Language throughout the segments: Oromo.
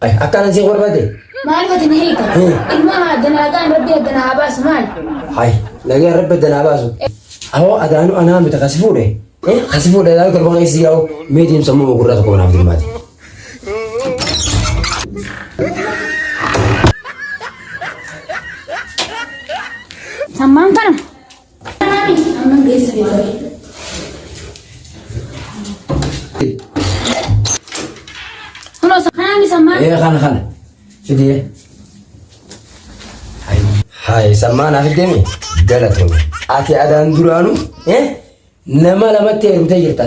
Akka anan siif barbaade. Maal gooti na hiika? Ilma danaagaan rabbi adda na haa baasu maal? Hayi nagaan rabbi adda naa baasu. Awoo adaanuu anaa miti kasi fuudhe. Kasi fuudhe adaanuu torba keessa yaa'u mee deemsa immoo gurraa tokko naaf dirmaati. Sammaan kana Ee kana kana. Fidee. Hayi sammaan hafi deemi galatoomi. Ati adaan duraanu nama lamatti heerumtee jirta.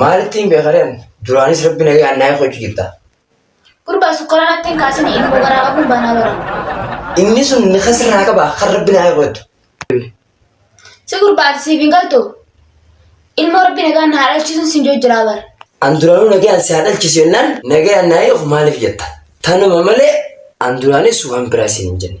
Maalittiin beekaree ani duraanis rabbi nagee annaayee kochu jirta. Gurbaa sukkaraa natti hin kaasini ilmoo garaa qabuun baanaa bara. Inni sun ni kasirraa qaba kan rabbi naayee kochu. Si gurbaa ati siif hin galtu ilmoo rabbi nagaan na haadhalchiisuun sin joo jiraa bara. An duraanuu nagee an si haadhalchiisu jennaan nagee annaayee of maaliif jetta. Tanuma malee an duraanis waan biraa siin hin jenne.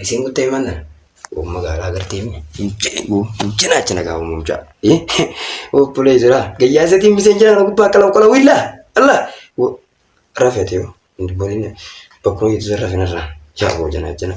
Isin guttee manna umma gaara agartee mi jina achina gaa umma mucaa obbolee jira gayyaa isatiin miseen jira na gubbaa qalaw qalaw illa alla rafete yo bonin bakkuma jitu san rafin irraa yaa boo jana jana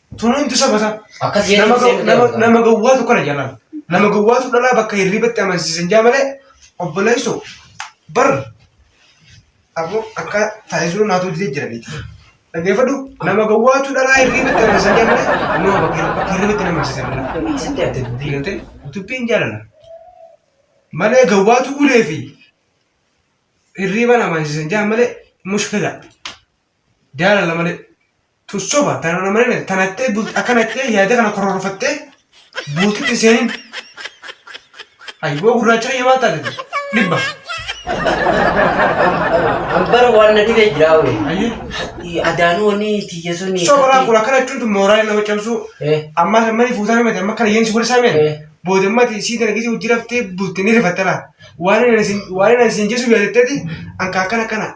Tunuuntu saba isaa. Akkas jedhee Nama ibsee gaw- nama- miti. nama gowwaatu kana jalaan. Nama gowwaatu dhalaa bakka hirribatti amansiisan jaa malee obboleessoo bar aboo akka taasisuu naatu didee jiraniiti. Dhaggeeffadhu nama gowwaatu dhalaa hirribatti amansiisan jaa malee nama bakka hirri- bakka hirribatti nama amansiisan dhalaa. Inni eessatti arte dubbii? Diigatee dubbiin jaalala. Malee gowwaatu ulee fi hirriban amansiisan jaa malee mushkila. Jaalala malee. Tun soba tanana malee tanattee bulti akkana jettee yaada kana kororfattee bultitti seenin. Ayyoo gurraacha kiyya maal taate dhibba. Ambara waan na dhibee jiraa wee. Ayyoo. Adaanuu wanni tiyya suni. Soba laa kun akkana jechuun tun mooraa nama cabsuu. Eh. Ammaa kan mali fuutaa himate amma kana yeensi walisaa meen. Eh. Booda mati sii kana gisii hojii raftee bulti ni rifatte laa. Waan inni isin waan inni isin jesu yaadatteti anka akkana akkana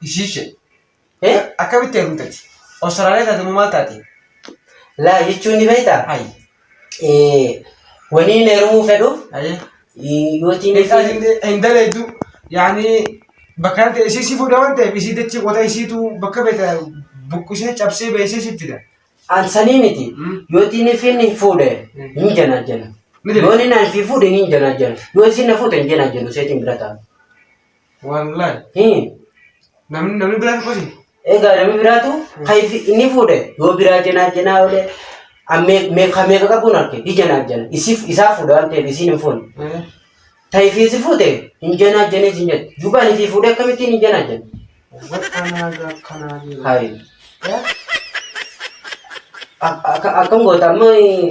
Ishiishe. Eh? Akkamitti heerumtati? Awustiraaliyaa taate moo maal taate? Laa jechuun ni beektaa? Hayi. Eh, wanii na herumuu fedhu Hayi. yootiin Beekaa hin hin daleeddu. Yaani bakka kanatti ishii si fuudha waan ta'eef ishii dachii qota ishiitu bakka beekta buqqisee cabsee beeksee si fida. ansanii miti Mm. yootiin ifiin hin fuudhe Mm. hin janaajjana. Ni jedhe. Yoon inni fi fuudhe hin janaajjana. Yoo isin na fuute hin janaajjanu seetiin bira ta'a. Wallahi. Hii. Namni namni biraa dubbate. Egaa namni biraatu kan ifi- inni fuudhe yoo biraa jenaa jenaa oole ammee meeqa meeqa qabuun arge di jenaa jena isiif isaa fuudhe waan ta'eef isiin hin fuune. Eh. Ta'ifi si fuute hin jenaa jenee sin jette jubaan isii fuudhe akkamittiin hin jenaa jena. Wakkanaa gakkanaa jiru. Hayi. Eh? Ak- akka- Akkam goota amma eh,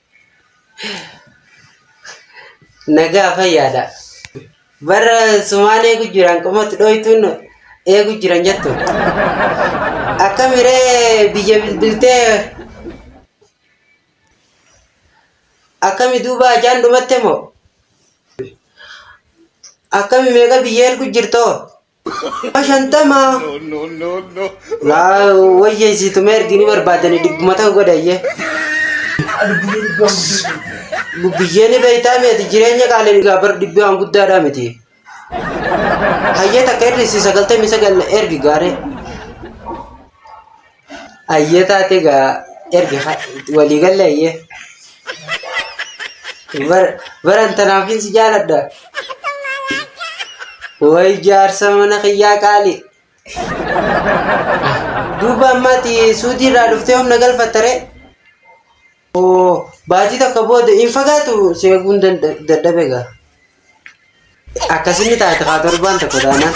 Nagaa fayyaadha. Bara sumaan eegu jiran qomatti dhooytuun eegu jiran jettu. Akka miree biyya bilbiltee akkami duuba ajaan dhumatte moo? Akkami meeqa biyya ergu jirtoo? shantama laa wayya isiituma ergini barbaadani dhibbuma ta'u godhayye lubbiyyeen beektaa miti jireenya qaalii egaa bar dhibbi waan guddaadhaa miti hayyee takka irrisi sagaltamii sagal ergi gaaree Ayyee taate egaa ergi walii galle ayyee. Bara- Baran tanaafiin si jaaladha. Way jaarsa mana kiyyaa qaali. Duuba ammaati suudii irraa dhuftee humna galfatta ree? Hoo baatii tokko booda hin fagaatu si eeguun danda- dadhabe gaa. Akkasini taate kaa torbaan tokko taanaan.